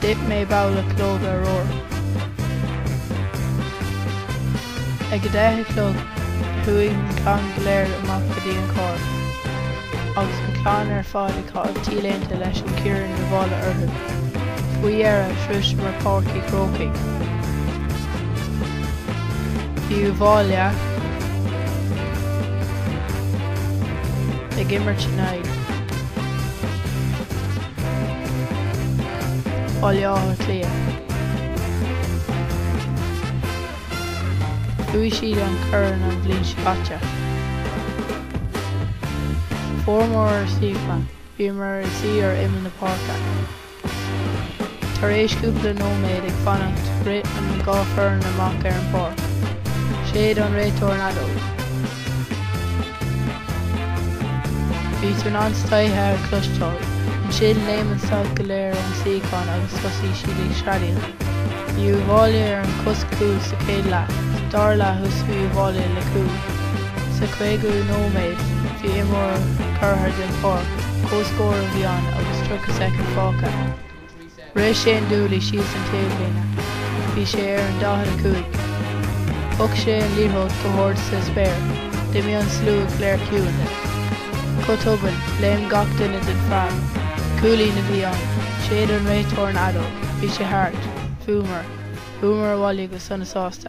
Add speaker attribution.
Speaker 1: D'ith mé babhla calóga arbhair. Ag a deich a chlog, chuaigh an clann go léir amach go dtí an carr. Agus an clann ar fad ag caitheamh T-léinte leis an corn Uíbh Fhailí orthu. Faoi dheireadh, shroiseamar Páirc Uí Chrócaigh. Bhí Uíbh Fhailí ag imirt in aghaidh. Bhaile Átha Cliath. Bhuaigh siad an corn an bhliain seo caite. Fuaireamar ár suíocháin, bhíomar ag suí ar imeall na páirce. Tar éis cúpla nóiméad ag fanacht rith an dhá fhoireann amach ar an bpáirc. Shéid an réiteoir an fheadóg. Bhí tú in ann cleite a chloisteáil. Ansin léim an staid go léir ón suíochán agus thosaigh siad ag screadaíl. Bhí Uíbh Fhailí ar an chos cúil sa chéad leath, dara leath thosaigh Uíbh Fhailí le cúl. Sa chaogú nóiméad bhí imreoir curtha den pháirc, comhscór a bhí ann agus 30 soicind fágtha. Rith Shane Dooley síos an taobhlíne. Bhí sé ar an 45. Thug sé an liathróid go hard sa spéir, d'imigh an slua go léir ciúin. Go tobann, léim gach duine den phreab. Cúilín a bhí ann. Shéid an réiteoir an fheadóg. Bhí sé thart. Bhuamar. Chuamar abhaile go sona sásta.